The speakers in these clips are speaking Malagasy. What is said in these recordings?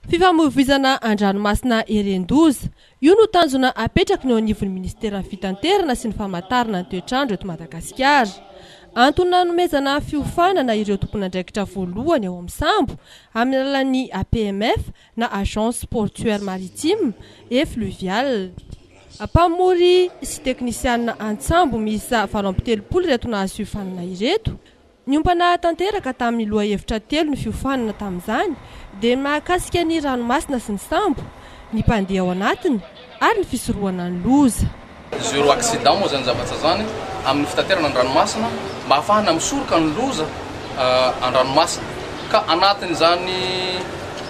Fifamoivoizana an-dranomasina Herendoza. Io no tanjona apetraky ny eo anivon'ny minisiteran'ny Fitanterana sy ny Famantarana ny toetr'andro eto Madagasikara. Antony nanomezana fiofanana ireo tompon'andraikitra voalohany ao amin'ny sambo amin'ny alalan'ny APMF na Agence Portuaire Maritime et Fluviale. Mpamory sy teknisianina an-tsambo miisa valo amby telopolo ireto nahazo fiofanana ireto Niompana tanteraka tamin'ny lohahevitra telo ny fiofanana tamin'izany, dia ny mahakasika ny ranomasina sy ny sambo, ny mpandeha ao anatiny ary ny fisorohana ny loza. Zero accident moa izany zavatra izany amin'ny fitaterana an-dranomasina mba hahafahana misoroka ny loza an-dranomasina. Ka anatin'izany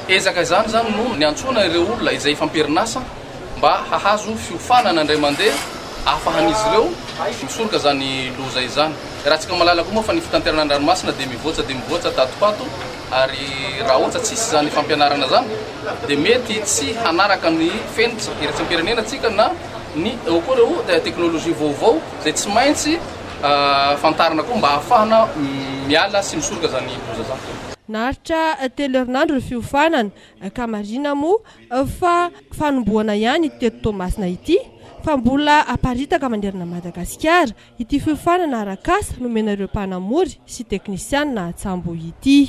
ezaka izany izany no niantsoana ireo olona izay efa am-perinasa. mba hahazo fiofanana indray mandeha ahafahan'izy ireo misoroka izany loza izany. Iarahantsika mahalala koa moa fa ny fitanterana ny ranomasina dia mivoatsa dia mivoatsa tato ho ato ary raha ohatra tsisy izany fampianarana izany dia mety tsy hanaraka ny fenitra iraisam-pirenena antsika na ny eo koa ireo teknolojia vaovao izay tsy maintsy fantarina koa mba hahafahana miala sy misoroka izany loza izany. Naharitra telo herinandro ny fiofanana, ka marina moa fa fanombohana ihany ity teto Toamasina ity fa mbola haparitaka manerana Madagasikara ity fiofanana arak'asa nomena ireo mpanamory sy teknisianina Atsamboho ity.